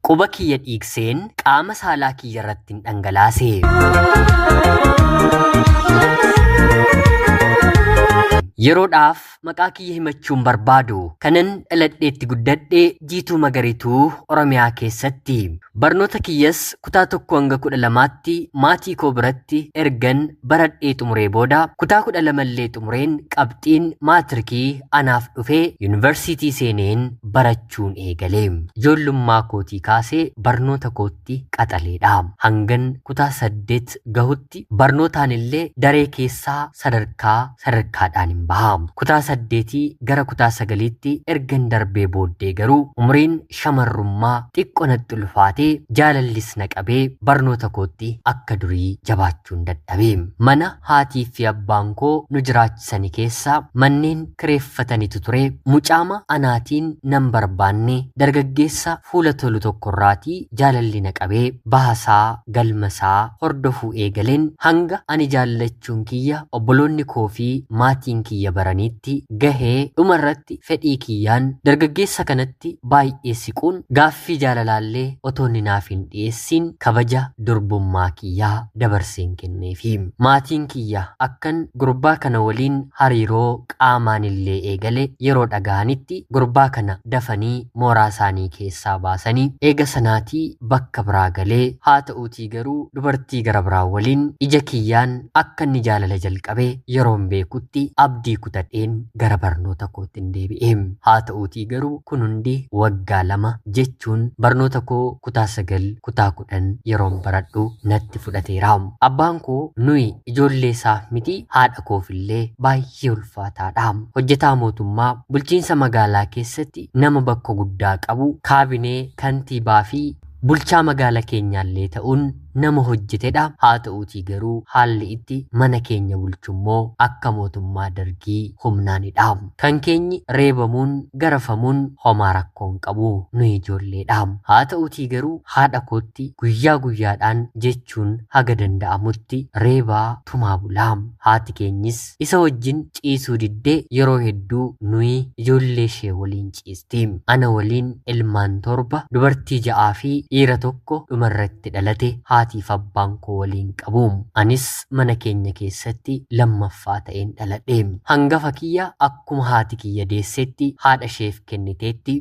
Quba kiyya dhiigseen qaama saalaa kiyyarrattin dhangalaase. Yeroodhaaf maqaa kiyya himachuun barbaadu kanan dhaladheetti guddadhe Jiituu Magariituu Oromiyaa keessatti. Barnoota kiyyas kutaa tokko hanga kudha lamaatti maatii koo biratti ergan baradhee xumuree booda kutaa kudha lamallee xumureen qabxiin maatirikii anaaf dhufee yuunivarsiitii seeneen barachaa hojjechuun eegale. Ijoollummaa kootii kaasee barnoota kootti qaxaleedha. Hangan kutaa saddeet gahutti barnootaanillee daree keessaa sadarkaa sadarkaadhaanin baha. Kutaa saddeetii gara kutaa sagaliitti ergan darbee booddee garuu umriin shamarrummaa xiqqo natti ulfaatee jaalallis na qabee barnoota kootti akka durii jabaachuun dadhabe. Mana haatiifi abbaan koo nu jiraachisaa sani keessa manneen kireeffatanitu ture. Mucaama anaatiin nan barbaanne dargaggeessa fuula tolu tokkorraati jaalalli na qabe. Bahasaa, galmasaa hordofuu eegalen hanga ani jaallachuun kiyya obboloonni koo fi maatiin kiyya baraniitti gahe. Dhumarratti fedhii kiyyaan dargaggeessa kanatti baay'ee siquun gaaffii jaalalaallee otoo inni naaf hin dhiyeessiin kabaja durbummaa kiyya dabarseen kenneefi. Maatiin kiyya akkan gurbaa kana waliin hariiroo qaamaanillee eegale yeroo dhagahanitti gurbaa kana dafanii mooraasaanii keessaa baasanii eega sanaatii bakka biraa galee haata'uutii garuu dubartii gara biraa waliin ija kiyyaan akka inni jaalala jalqabe yeroon beekutti abdii kutadheen gara barnoota koottin deebi'e. Haata'uutii garuu kun hundi waggaa lama jechuun barnoota koo kutaa 9 kutaa kudhan yeroon baradhu natti fudhateera. Abbaan koo nuyi ijoolleesaaf miti haadha koofillee baay'ee ulfaataadha. Hojjetaa mootummaa bulchiinsa magaalaa keessatti nama bakka guddaa qabu, kaabinee, kantiibaafi bulchaa magaala keenyaallee ta'uun nama hojjetedha. Haata'uutii garuu haalli itti mana keenya bulchummoo akka mootummaa Dargii humnaanidha. Kan keenyi reebamuun, garafamuun homaa rakkoo hin qabu. Nuyi ijoolleedha. Haata'uutii garuu haadha kootti guyyaa guyyaadhaan jechuun haga danda'amutti reebaa, tumaa bula. Haati keenyis isa wajjin ciisuu diddee yeroo hedduu nuyi ijoolleeshee waliin ciisti. Ana waliin ilmaan torba, dubartii ja'aafi dhiira tokko dhumarratti dhalate haatiif abbaan koo waliin qabu. Anis mana keenya keessatti lammaffaa ta'een dhaladhe. Hangafa kiyya akkuma haati kiyya deessetti haadhasheef kenniteetti.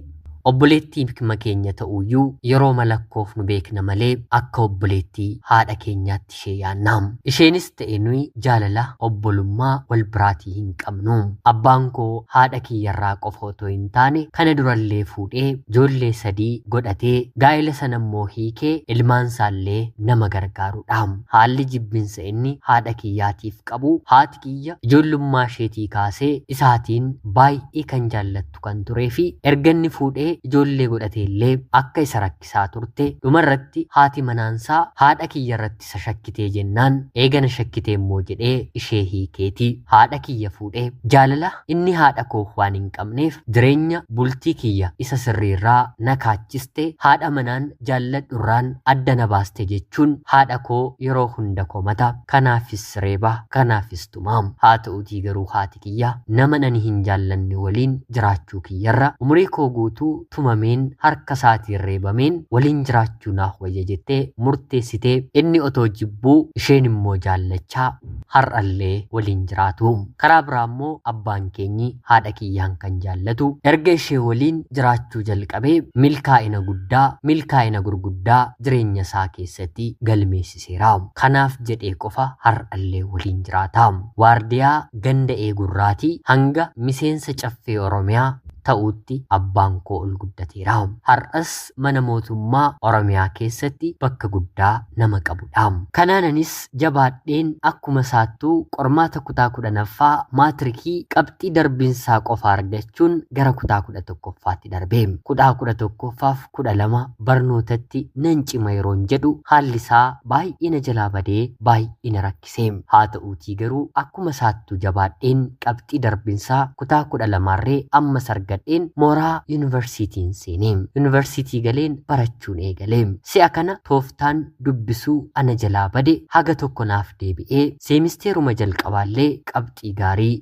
Obboleettiima keenya ta'uyyuu yerooma lakkoofnu beekna malee akka obboleettii haadha keenyaatti ishee yaanna. Isheenis ta'e nuyi jaalala obbolummaa wal biraatii hin qabnu. Abbaan koo haadha kiyyarraa qofa otoo hin taane kana durallee fuudhee ijoollee sadii godhatee gaa'ela sanammoo hiikee ilmaansaallee nama gargaarudha. Haalli jibbinsa inni haadha kiyyaatiif qabu haati kiyya ijoollummaasheetii kaasee isaatiin baay'ee kan jaallattu. jiraattu kan turee fi erga inni fuudhee ijoollee godhatee illee akka isa rakkisaa turte dhuma irratti haati manaan isaa haadha kiyya irratti isa shakkitee jennaan eega na shakkitee immoo jedhee ishee hiikeeti haadha kiyya fuudhe. Jaalala inni haadha koof waan hin qabneef jireenya bultii kiyya isa sirrii irraa na kaachiste haadha manaan jaalladhu irraan adda na baaste jechuun haadha koo yeroo hunda komata kanaafis reeba kanaafis tuma. Haa ta'uutii garuu haati. haati tiyya naman ani hin jaallanne waliin jiraachuu kiyyarra umurii koo guutuu tumameen harka isaatiin reebameen waliin jiraachuu naaf wayya jettee murteessite. Inni otoo jibbuu isheen immoo jaallachaa har'allee waliin jiraatu. Karaa biraa immoo abbaan keenyi haadha kiyyaan kan jaallatu erga ishee waliin jiraachuu jalqabee milkaa'ina guddaa, milkaa'ina gurguddaa jireenya isaa keessatti galmeessise. dhiiseera. Kanaaf jedhee qofa har'allee waliin jiraata. Waardiyaa ganda eegurraatii hanga miseensa Caffee Oromiyaa ta'uutti abbaan koo ol guddateera. Har'as mana mootummaa Oromiyaa keessatti bakka guddaa nama qabudha. Kanaan anis jabaadheen akkuma isaattuu qormaata kutaa 10ffaa maatirikii qabxii darbiinsaa qofa argachuun gara kutaa 11ffaatti darbe. Kutaa 11ffaaf kudha lama barnootatti nan cima yeroon jedhu haalli isaa baay'ee na jalaa badee baay'ee na rakkise. Haa ta'uutii garuu akkuma isaattuu jabaadheen qabxii darbinsaa kutaa kudha lamaarree ammas argadheen mooraa yuunivarsiitiin seene. Yuunivarsiitii galeen barachuun eegale. Si'a kana tooftaan dubbisuu ana jalaa bade haga tokko naaf deebi'ee seemisteeruma jalqabaallee qabxii gaarii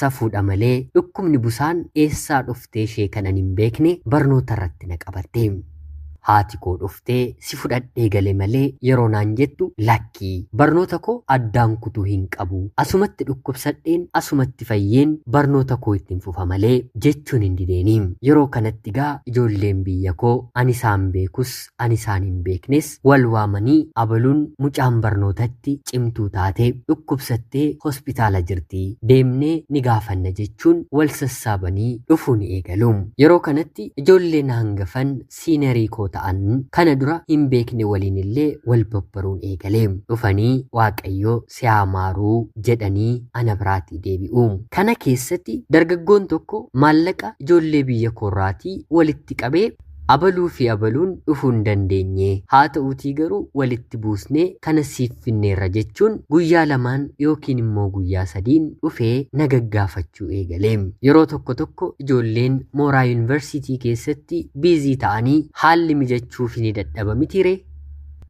Safuudha malee dhukkubni busaan eessaa dhuftee ishee kanan hin beekne barnoota irratti na qabatte. Haati koo dhuftee si fudhadhee gale malee yeroo naan jettu lakkii barnoota koo addaan kutuu hin qabu asumatti dhukkubsadheen asumatti fayyeen barnoota koo ittiin fufa malee jechuun hin dideeni. Yeroo kanatti gaa ijoolleen biyya koo ani isaan beekus kan isaan hin beeknes wal waamanii abaluun mucaan barnootatti cimtuu taate dhukkubsattee hospitaala jirti deemnee ni gaafanna jechuun wal sassaabanii dhufuu ni eegalu. Yeroo kanatti ijoolleen hangafan siinerii koo ta'an kana dura hin beekne waliin illee wal babbaruun eegale. Dhufanii waaqayyo si haa maaruu jedhanii ana biraatii deebi'u. Kana keessatti dargaggoon tokko maallaqa ijoollee biyya koorraatii walitti qabee Abaluu fi abaluun dhufuu hin dandeenye. Haata'uutii garuu walitti buusnee kana siif finneerra jechuun guyyaa lamaan yookiin immoo guyyaa sadiin dhufee na gaggaafachuu eegale. Yeroo tokko tokko ijoolleen mooraa yuunivarsiitii keessatti biizii ta'anii haalli mijachuufii ni dadhaba mitiiree?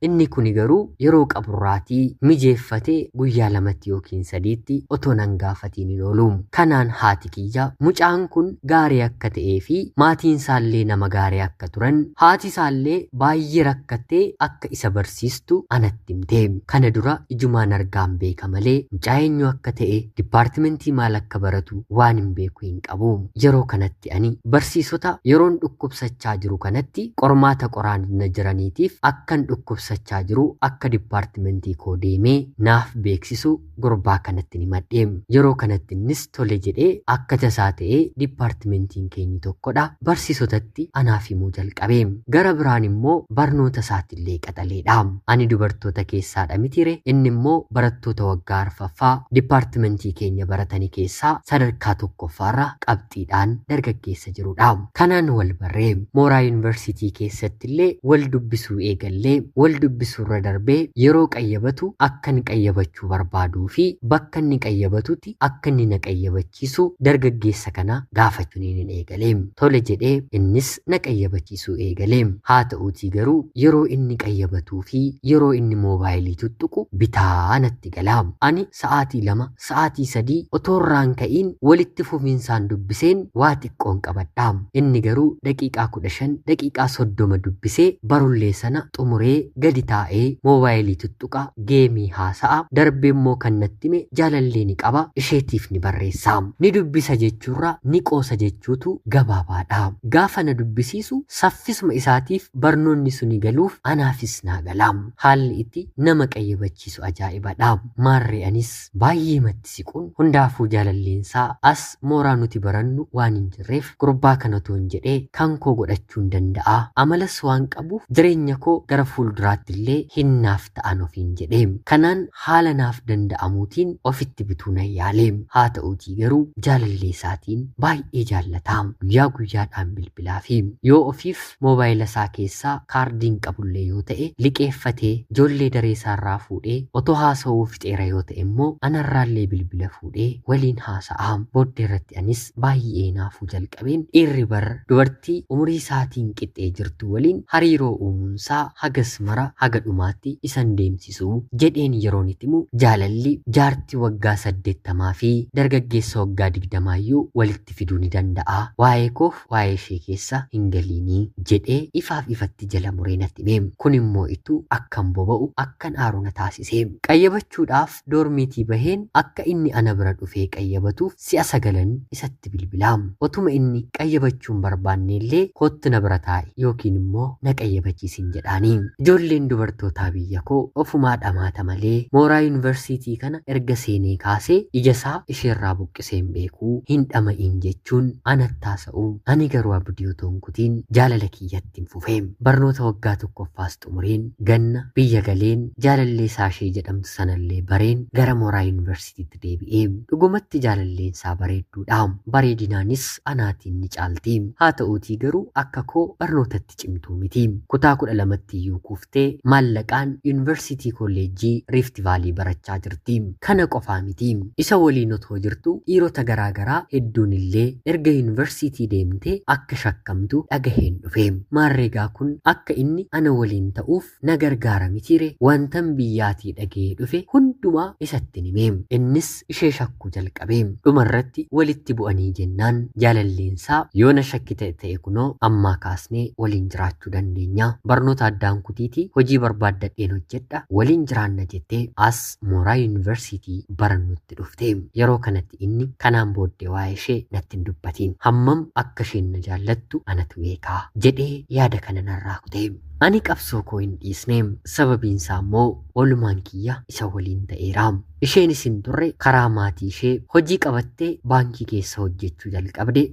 Inni kuni garuu yeroo qaburraatii mijeeffatee guyyaa lamatti yookiin sadiitti otoo nan gaafatiin hin oolu. Kanaan haati kiyya mucaan kun gaarii akka ta'eefi maatiinsaallee nama gaarii akka turan, haatisaallee baay'ee rakkattee akka isa barsiistu anatti himte. Kana dura ijumaan argaan beeka malee mucaa eenyu akka ta'e, dippaartimentii maal akka baratu waan hin beeku hin qabu. Yeroo kanatti. kanatti ani barsiisota yeroon dhukkubsachaa jiru kanatti qormaata qoraan na jiraniitiif akkan dhukkubsachaa jiru akka dippaartimentii koo deemee naaf beeksisu gurbaa kanattin himadhe. Yeroo kanatti innis tole jedhee akka tasaa ta'ee dippaartimentiin keenyi tokkodha barsiisotatti anaaf himuu jalqabe. Gara biraan immoo barnoota isaatillee qaxaleedha. Ani dubartoota keessaadha mitire inni immoo barattoota waggaa arfaffaa dippaartimentii keenya baratani keessaa sadarkaa tokkoffaarra qabxii qabxiidhaan dargaggeessa jirudha. Kanaan wal barree mooraa yuunivarsiitii keessattillee wal dubbisuu eegallee wal dubbisuurra darbee yeroo qayyabatu akkan qayyabachuu barbaaduu fi bakka inni qayyabatutti akka inni na qayyabachiisu dargaggeessa kana gaafachuun hin eegale. Tole jedhee innis na qayyabachiisuu eegale. Haa ta'uutii garuu yeroo inni qayyabatuu fi yeroo inni moobaayilii tuttuqu bitaa natti gala. Ani sa'aatii lama sa'aatii sadii otoo irraa hin ka'iin walitti fufinsaan dubbiseen waa xiqqoon qabadha. Inni garuu daqiiqaa 15, daqiiqaa 30 dubbisee barullee sana xumuree gadi taa'ee moobaayilii tuttuqa, geemii haasa'a, darbeemmoo kan natti hime jaalallee ni qaba, isheetiif ni barreessa. Ni dubbisa jechuurra ni qoosa jechuutu gabaabaadha. Gaafa na dubbisiisu saffisuma isaatiif barnoonni suni galuuf anaafis naa gala. Haalli itti nama qayyabachiisu ajaa'iba dha. Maarree anis baay'eematti siquun hundaafuu jaalalleensaa as mooraa nuti barannu waan hin jirreef gurbaa kanatoon jedhe kan koo godhachuun danda'a. Amalas waan qabuuf jireenya koo gara fuulduraatti illee hin naaf ta'an ofiin jedhe. Kanaan haala naaf danda'amuutiin ofitti butuu nan yaale. Haata'uutii garuu jaalalleesaatiin baay'ee jaallata. Guyyaa guyyaadhaan bilbilaafi. Yoo ofiif Moobaayila isaa keessaa kaardii hin qabullee yoo ta'e, liqeeffatee ijoollee daree isaarraa fuudhee otoo haasa'uu fixeera yoo ta'e immoo anarraallee bilbila fuudhee waliin haasa'a. Booddeerratti anis baay'ee hinaafuu jalqabeen dhiirri bar dubartii umurii isaatiin qixxee jirtuu waliin hariiroo uumuunsaa hagas mara haga dhumaatti isa hin deemsisu jedheen yeroon itti himu jaalalli jaartii waggaa saddeettamaafi dargaggeessa waggaa digdamaayyuu walitti fiduu ni danda'a. Waa'ee koof waa'ee ishee keessa hin galiinii! jedhee ifaaf ifatti jala muree natti hime. Kun immoo ittuu akkan boba'u, akkan aaru na taasise. Qayyabachuudhaaf doormiitii baheen akka inni ana bira dhufee qayyabatuuf si'a sagalan isatti bilbila. Otuma inni qayyabachuu hin barbaannee illee koottu na bira taa'i yookiin immoo na qayyabachiisin jedhaani. Ijoolleen dubartootaa biyya koo ofumaa dhamaata malee mooraa yuunivarsiitii kana erga seenee kaasee ija isaa isheerraa buqqisa. dubbisee hin beeku hin dhama'iin jechuun anatti haasa'u. Ani garuu abdii otoo hin kutiin jaalala kiyyattin fufe. Barnoota waggaa tokkoffaas xumureen ganna biyya galeen jaalallee Saashee jedhamtu sanallee bareen gara mooraa yunivarsiitiitti deebi'e. Dhugumatti jaalalleensaa bareedduudha. Bareedinaanis anaatiin ni caalti. Haata'uutii garuu akka koo barnootatti cimtuu miti. Kutaa 12ttiyyuu kuufte. Te maallaqaan Yuunivarsiitii Kolleejjii Riifti Vaalii barachaa jirti. Kana qofaa miti. Isa waliin otoo jirtu dhiirota garaa garaa hedduunillee erga Yuunivarsiitii deemtee akka shakkamtu dhagaheen dhufe. Maarreegaa kun akka inni ana waliin ta'uuf na gargaara mitiiree? Wantan biyyaatii dhagahee dhufe hundumaa isattin hime. Innis August ishee shakkuu jalqabe. Dhumarratti walitti bu'anii jennaan jaalalleensaa yoo na shakkite ta'e kunoo ammaa kaasnee waliin jiraachuu dandeenya. Barnoota addaan kutiitii hojii barbaaddadheen hojjedha waliin jiraanna jettee as mooraa yuunivarsiitii barannutti dhufte. Yeroo kanatti inni kanaan booddee waa'ee ishee natti hin dubbatiin. Hammam akka isheen na jaallattu anatu beeka jedhee yaada kana narraa kute. Ani qabsoo koo hin dhiisne sababiinsaa immoo oolmaan kiyya isa waliin ta'eera. Isheenis hin turre karaa maatii ishee hojii qabattee baankii keessa hojjechuu jalqabde.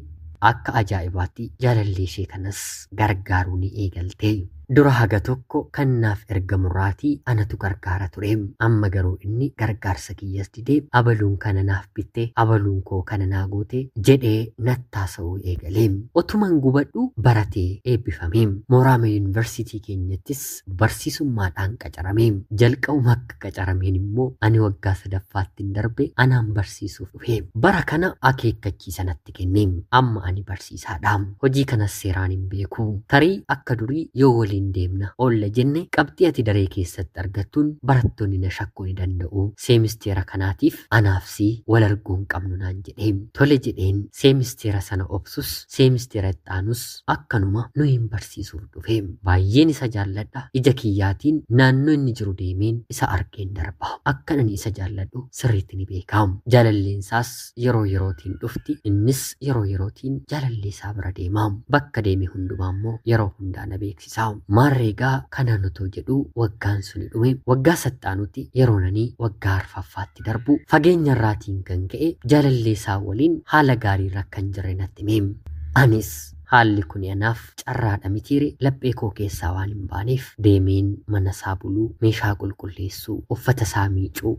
Akka ajaa'ibaatti jaalallee ishee kanas gargaaruu ni eegalte. Dura haga tokko kan naaf ergamurraatii anatu gargaara ture. Amma garuu inni gargaarsa kiyyas didee abaluun kana naaf bitte, abaluun koo kana naa goote jedhee natti haasa'uu eegale. Otuman gubadhuu baratee eebbifame. Mooraama Yuunivarsiitii keenyattis keessatti barsiisummaadhaan qacarame. Jalqabuma akka qacarameen immoo ani waggaa sadaffaattin darbe anaan barsiisuuf dhufe. Bara kana akeekkachiisa natti kenne. Amma ani barsiisaadha. Hojii kanas seeraan hin beeku. Tarii akka durii yoo waliin deemna oolla jenne qabxii ati daree keessatti argattuun barattoonni na shakkuu ni danda'u. Seemisteera kanaatiif anaaf si wal arguu hin qabnu naan jedhe. Tole jedheen seemisteera sana obsus seemisteera itti aanus akkanuma nu hin barsiisuuf dhufe baay'een isa jaalladha ija kiyyaatiin naannoo inni jiru deemeen isa argeen darba akkan ani isa jaalladhu sirriitti ni beeka jaalalleensaas yeroo yerootiin dhufti innis yeroo yerootiin jaalallee isaa bira deema bakka deeme hundumaa immoo yeroo hundaa na beeksisa maarreegaa kanaan otoo jedhu waggaan suni dhume waggaa sattaanutti yeroon ani waggaa arfaffaatti itti darbu fageenya irraatiin kan ka'e jaalallee isaa waliin haala gaarii irra kan jirre natti hime. Anis haalli kun anaaf carraadha mitiire laphee koo keessaa waan hin baaneef deemeen mana isaa buluu, meeshaa qulqulleessuu, uffata isaa miicuu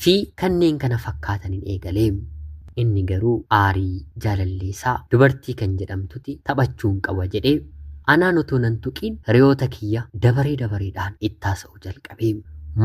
fi kanneen kana fakkaataniin eegale. Inni garuu aarii jaalallee isaa dubartii kan jedhamtuti taphachuun qaba jedhee anaan otoo nan tuqiin hiriyoota kiyya dabaree dabareedhaan itti haasa'u. tokko jalqabee.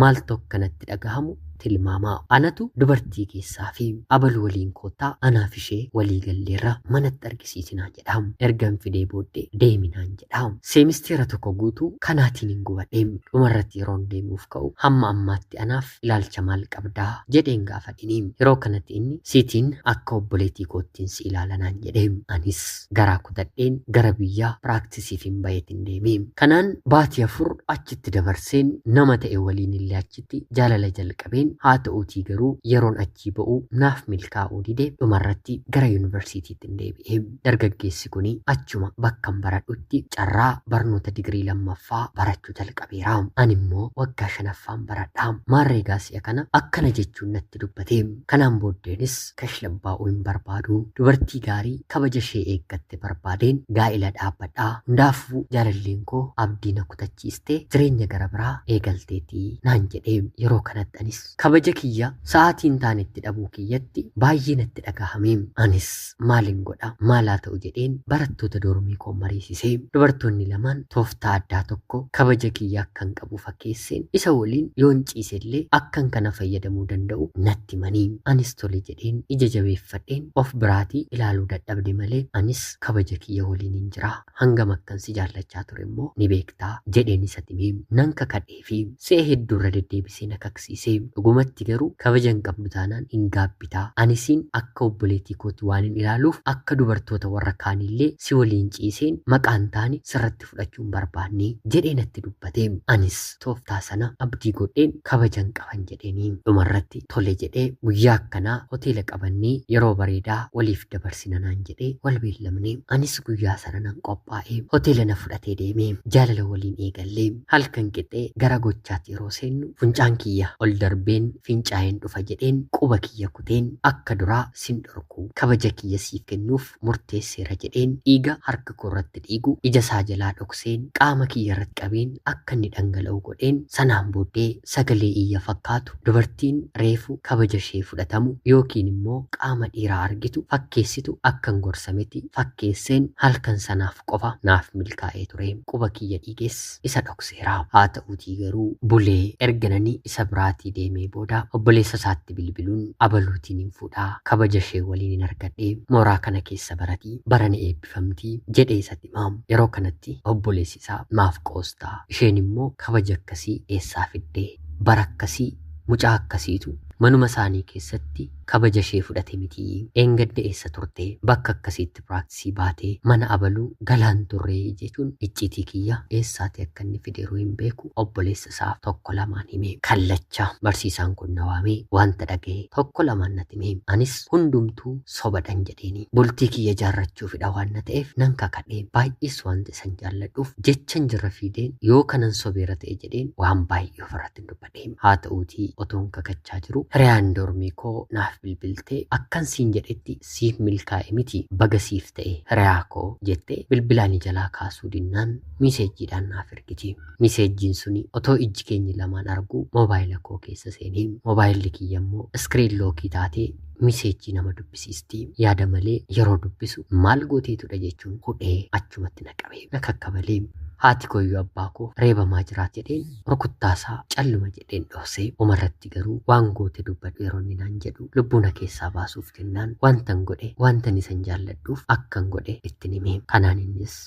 Maaltu akka natti dhagahamu tilmaamaa. Anatu dubartii keessaa fi. Abalu waliin koottaa anaaf ishee walii galleerra manatti argisiisi naan jedha. Ergan fidee booddee deemi naan jedha. Seemisteera tokko guutuu kanaatiinin gubadhe. Dhumarratti yeroon deemuuf ka'u hamma ammaatti anaaf ilaalcha maal qabda? jedheen gaafadhini. Yeroo kanatti inni sitiin akka obboleetii koottiin si ilaala naan jedhe. Anis. garaa kutadheen gara biyyaa piraaktisiifin baheetin deeme. Kanaan baatii afur achitti dabarseen nama ta'e waliinillee achitti jaalala jalqabeen haata'uutii garuu yeroon achii ba'u naaf milkaa'uu dide dhumarratti gara yunivarsiitiittin deebi'e. Dargaggeessi kuni achuma bakkan baradhutti carraa barnoota digirii lammaffaa barachuu jalqabeera. Animmoo waggaa shanaffaan baradha. Maarreegaa si'a kana akkana jechuun natti dubbate. Kanaan booddeenis tashlabbaa'uu hin barbaadu. Dubartii gaarii kabaja ishee eeggatte barbaadeen gaa'ila dhaabbadha. Hundaafuu jaalalleen koo abdii na kutachiiste jireenya gara biraa eegalteeti naan jedhe. Yeroo kanatti anis kabaja kiyya sa'aatii hin taanetti dhabuu kiyyatti baay'ee natti dhagahame. Anis maalin godha maal haa ta'u jedheen barattoota doormii koo mariisise. Dubartoonni lamaan tooftaa addaa tokko kabaja kiyya akka hin qabu fakkeesseen isa waliin yoon ciisellee akkan kana fayyadamuu danda'u natti himani. Anis tole jedheen ija jabeeffadheen of biraatii ilaaluu dadhabde malee anis kabaja kiyya waliinin jira. Hangam akkan si jaallachaa ture immoo ni beekta, jedheen isat hime. Nan kakadheefi. Si'a hedduu irra deddeebisee na kaksiise. Dhugumatti garuu kabaja hin qabdu taanaan hin gaabbita. Ani siin akka obboleetii kooti waanin ilaaluuf akka dubartoota warra kaaniillee si waliin ciiseen maqaan taane sirratti fudhachuu hin barbaanne jedhee natti dubbate. Anis tooftaa sana abdii godheen kabajan qaban jedheeni. Dhumarratti tole jedhee guyyaa akkanaa hoteela qabannee yeroo bareedaa waliif dabarsina naan jedhee wal beellamne. Anis guyyaa sana nan qophaa'e. Hoteela na fudhatee deeme. Jaalala waliin eegalle. Halkan qixee gara gochaatti yeroo seennu funcaan kiyya ol darbeen fincaa'een dhufa jedheen quba kiyya kuteen akka duraa sin dhorku kabaja kiyya siif kennuuf fudhachuuf murteesseera jedheen dhiiga harka koo irratti dhiigu ija isaa jalaa dhokseen qaama kiyya irratti qabeen akka inni dhangala'u godheen sanaan booddee sagalee iyya fakkaatu dubartiin reefu kabaja ishee fudhatamu yookiin immoo qaama dhiiraa argitu fakkeessitu akkan gorsameti fakkeesseen halkan sanaaf qofa naaf milkaa'ee ture quba kiyya dhiiges isa dhokseera. Haata'uutii garuu bulee erga nani isa biraatii deemee booda obboleessa isaatti bilbiluun abaluutiin hin fuudha kabaja ishee waliinin argadhe mooraa kana keessa barati bara ni eebbifamti jedhee isatti hima. Yeroo kanatti obboleessi isaa maaf qoosta isheen immoo kabaja akkasii eessaa fidde bara akkasii mucaa akkasiitu manuma isaanii keessatti kabaja ishee fudhate mitii dheengadda eessa turte bakka akkasiitti practice baate mana abaluu galaa hin turre jechuun icciitii kiyya eessaati akka inni fideeruu hin beeku obboleessa isaaf tokko lamaan hime kallacha barsiisaan kun na waamee wanta dhagahe tokko lamaan nati hime anis hundumtuu sobadhan jedheeni bultii kiyya jaarrachuufidha waan na ta'eef nan kakadhe baay'ees wanta isan jaalladhuuf jechan jirra fiideen yoo kanan sobeera ta'e jedheen waan baay'ee ofirratti hin dubbadhe. jedheen. Haa ta'uutii otoon kakachaa jiruu hiriyaan dormii koo naaf bilbiltee akkan siin jedhetti siif milkaa'e miti baga siif ta'e hiriyaa koo jettee bilbila ani jalaa kaasuu dinnaan miiseejjiidhaan naaf ergiti. Miiseejjiin suni otoo ijji keenyi lamaan arguu moobaayila koo keessa seene. Moobaayilli kiyya immoo iskiriin lookii taatee miiseejjii nama dubbisiisti. Yaada malee yeroo dubbisu maal gooteetudha jechuun hudhee achumatti na qabe. Na kakkabalee. Haati kooyyuu abbaa koo reebamaa jiraati jedheen Rukuttaasaa calluma jedheen dhohse. Dhumarratti garuu waan goote dubbadhu yeroo inni naan jedhu lubbuu na keessaa baasuuf jennaan waantan godhe waantan isan jaalladhuuf akkan godhe ittin hime. Kanaan innis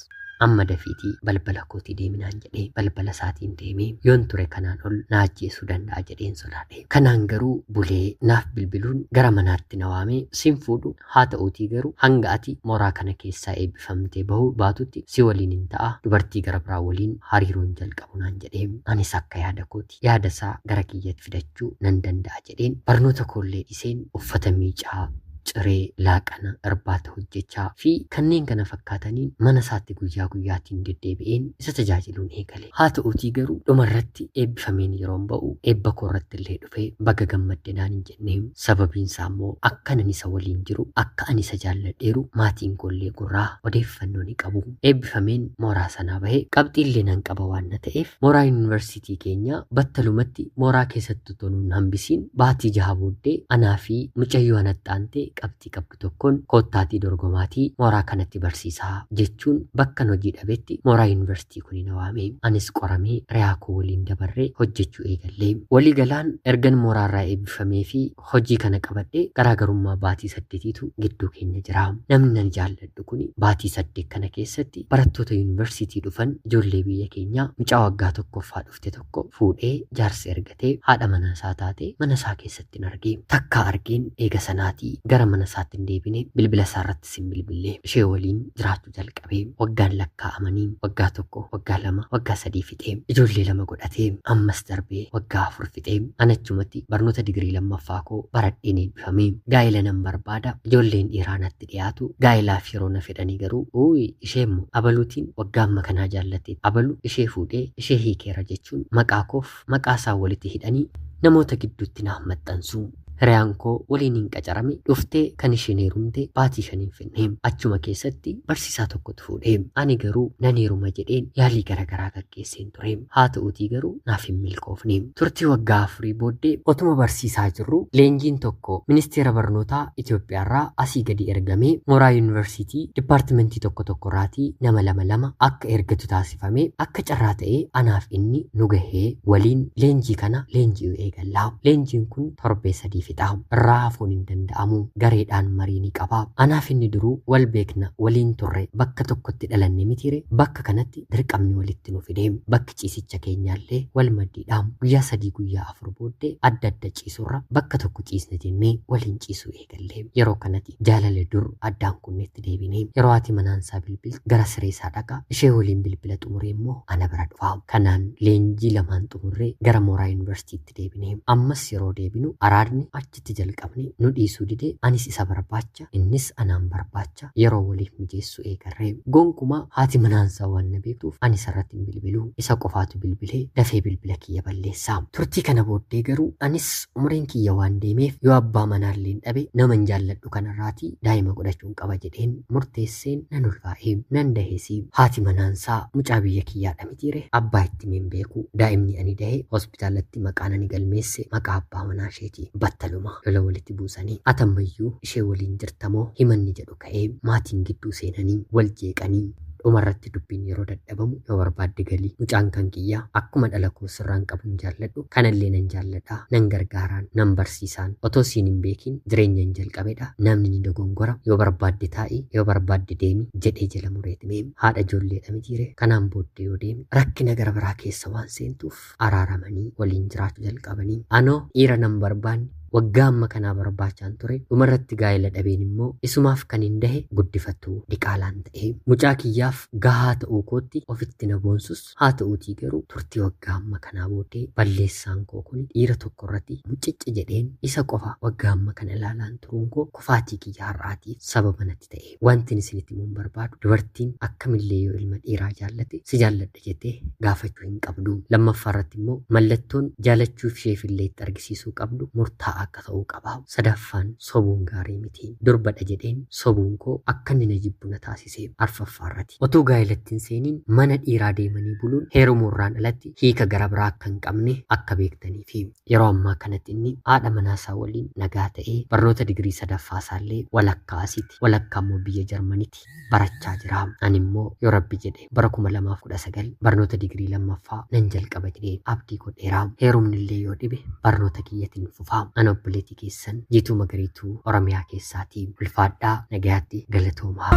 Amma dafiitii balbala kootii deemi naan jedhe. Balbala isaatiin deeme. Yoon ture kanaan ol na ajjeesuu danda'a jedheen sodaadhe. Kanaan garuu bulee naaf bilbiluun gara manaatti na waamee sin fuudhu haa ta'uutii garuu hanga ati mooraa kana keessaa eebbifamtee bahuu baatutti si waliinin ta'a dubartii gara biraa waliin hariiroon jalqabu naan jedhe. Anis akka yaada kooti yaada isaa gara kiyyatti fidachuu nan danda'a jedheen barnoota koollee dhiseen uffata miicaa, ciree, laaqana, irbaata hojjechaa fi kanneen kana fakkaataniin mana isaatti guyyaa guyyaatiin deddeebi'een isa tajaajiluun eegale. Haa ta'uutii garuu dhuma irratti eebbifameen yeroon ba'u eebba koo irratti illee dhufee baga gammadde naan hin jenne. Sababiin isaa immoo akkan ani isa waliin jiru akka ani isa jaalladheeru maatiin koo illee gurraa odeeffannoo ni qabu. Eebbifameen mooraa sanaa bahe qabxii illee nan qaba waan na ta'eef mooraa yuunivarsiitii keenyaa battalumatti mooraa keessatti utuu nun hambisiin baatii jaha booddee anaa fi mucayyoo anatti aantee qabxii qabdu tokkoon koottaatii dorgomaatii mooraa kanatti barsiisaa jechuun bakkan hojii dhabetti mooraa yunivarsitii kuni na waame. Anis qoramee riyaa koo waliin dabarree hojjechuu eegalle. Walii galaan ergan mooraa irraa eebbifamee fi hojii kana qabadhe garaagarummaa baatii saddetiitu gidduu keenya jira. Namni ani jaalladhu kuni baatii saddeet kana keessatti barattoota yunivarsitii dhufan ijoollee biyya keenyaa mucaa waggaa tokkoffaa dhufte tokko fuudhee jaarsa ergatee haadha manaa isaa taate mana isaa keessattin arge. Takkaa argeen eega sanaatii gara mana isaatti hin deebine, bilbila isaa irrattis hin bilbille. Ishee waliin jiraachuu jalqabe. Waggaan lakkaa'amanii waggaa tokko, waggaa lama, waggaa sadii fixe. Ijoollee lama godhate. Ammas darbee waggaa afur fixe. An achumatti barnoota digirii lammaffaa koo baradheen eebbifame. Gaa'ela nan barbaada, ijoolleen dhiiraa natti natti dhiyaatu gaa'ilaaf yeroo na fedhanii garuu uuyi isheemmoo abaluutiin waggaa amma kanaa jaallatteetti abalu ishee fuudhee ishee hiikeera jechuun maqaa koof maqaa isaa walitti hidhanii namoota gidduutti naaf maxxansu. Hiriyaan koo waliiniin qacarame dhuftee kan isheen heerumte baatii shaniin finne. Achuma keessatti barsiisaa tokkotu fuudhe. Ani garuu nan heeruma jedheen yaalii garagaraa gaggeesse. ture. Haa ta'uutii garuu naaf hin milkoofne. Turtii waggaa afurii booddee otuma barsiisaa jirruu leenjiin tokko Ministeera Barnootaa Itoophiyaarraa asii gadi ergamee mooraa yuunivarsiitii dipaartimentii tokko tokkorraatii nama lama lama akka ergatu taasifame akka carraa ta'ee anaaf inni nu gahee waliin leenjii kana leenji'uu eegalla. Leenjiin kun torbee sadii fixa. Irraa hafuun hin danda'amu. Gareedhaan marii ni qaba. Anaaf inni duruu wal beekna waliin turre bakka tokkotti dhalanne mitiire bakka kanatti dirqamni walitti nu fide. Bakki ciisicha keenyaallee wal maddiidha. Guyyaa sadii guyyaa afur booddee adda adda ciisurra bakka tokko ciisna jennee waliin ciisuu eegalle. Yeroo kanati jaalala dur addaan kunnetti deebine. Yeroo haati manaansaa bilbiltu gara sireesaa dhaqa. Ishee waliin bilbila xumuree immoo ana bira dhufa. Kanaan leenjii lamaan xumurree gara mooraa yuunivarsiitiitti deebine. Ammas yeroo deebinu araadni achi itti jalqabne nu dhiisuu dide anis isa barbaacha innis anaan barbaacha yeroo waliif mijeessu eegarre gonkumaa haati manaansaa waan na beektuuf ani isarratti hin bilbilu isa qofaatu bilbilee dafee bilbila kiyya balleessa turtii kana booddee garuu anis umriin kiyya waan deemeef yoo abbaa manaalleen dhabe naman jaalladhu kanarraatii daa'ima godhachuun qaba jedheen murteesseen nan ulfaa'e nan daheesi haati manaansaa mucaa biyya kiyyaadha mitiire abbaa itti hin beeku daa'imni ani dahe Hospitaalatti maqaan ani galmeesse maqaa abbaa manaa isheeti. Battaluma lola walitti buusanii atammayyuu ishee waliin jirtamoo himanni jedhu ka'ee maatiin gidduu seenanii wal jeeqanii dhumarratti dubbiin yeroo dadhabamu yoo barbaadde galii mucaan kan kiyyaa akkuma dhala koo sirraan qabuun jaalladhu kanallee nan jaalladha nan gargaaraan nan barsiisaan otoo siin hin beekiin jireenya hin jalqabedha namni ni dogongora yoo barbaadde taa'i yoo barbaadde deemi jedhee jala mureeti meem haadha ijoolleedha mitiire kanaan booddee yoo deemi rakkina gara biraa keessa waan seentuuf araaramanii waliin jiraachuu jalqabanii anoo dhiira nan barbaanne waggaa amma kanaa barbaachaan ture dhumarratti gaa'ela dhabeen immoo isumaaf kan hin dahe guddifattuu diqaalaan ta'ee mucaa kiyyaaf gahaa ta'uu kootti ofitti na boonsus haa ta'uutii garuu turtii waggaa amma kanaa booddee balleessaan koo kun dhiira tokko irratti mucicci jedheen isa qofa waggaa amma kana ilaalaan turuun koo kufaatii kiyya har'aatiif sababa natti ta'e wantin isinitti himuun barbaadu dubartiin akkamillee yoo ilma dhiiraa jaallate si jaalladha jaaladha jettee gaafachuu hin qabdu. Lammaffaa irratti immoo mallattoon jaalachuuf isheef illee itti argisiisuu qabdu murtaa'aa akka ta'uu qaba. Sadaffaan sobuun gaarii miti. Durbadha jedheen sobuun koo akka inni na jibbu na taasise. Arfaffaa irrati otuu gaa'ilatti hin seeniin mana dhiiraa deemanii buluun heerumuu irraan alatti hiika gara biraa akka hin qabne akka beektaniifi. Yeroo ammaa kanatti inni haadha manaa isaa waliin nagaa ta'ee barnoota digirii sadaffaa isaa illee walakkaa asiti walakkaa immoo biyya Jarmaniti barachaa jira. Ani immoo yoo rabbi jedhe bara 2019 barnoota digirii lammaffaa nan jalqaba jedhee abdii godheera. Heerumni illee yoo dhibe barnoota kiyyatiin fufa. Ana obboleetii keessan Jiituu Magariituu Oromiyaa keessaati. Ulfaadhaa nagayaatti galatoomaa.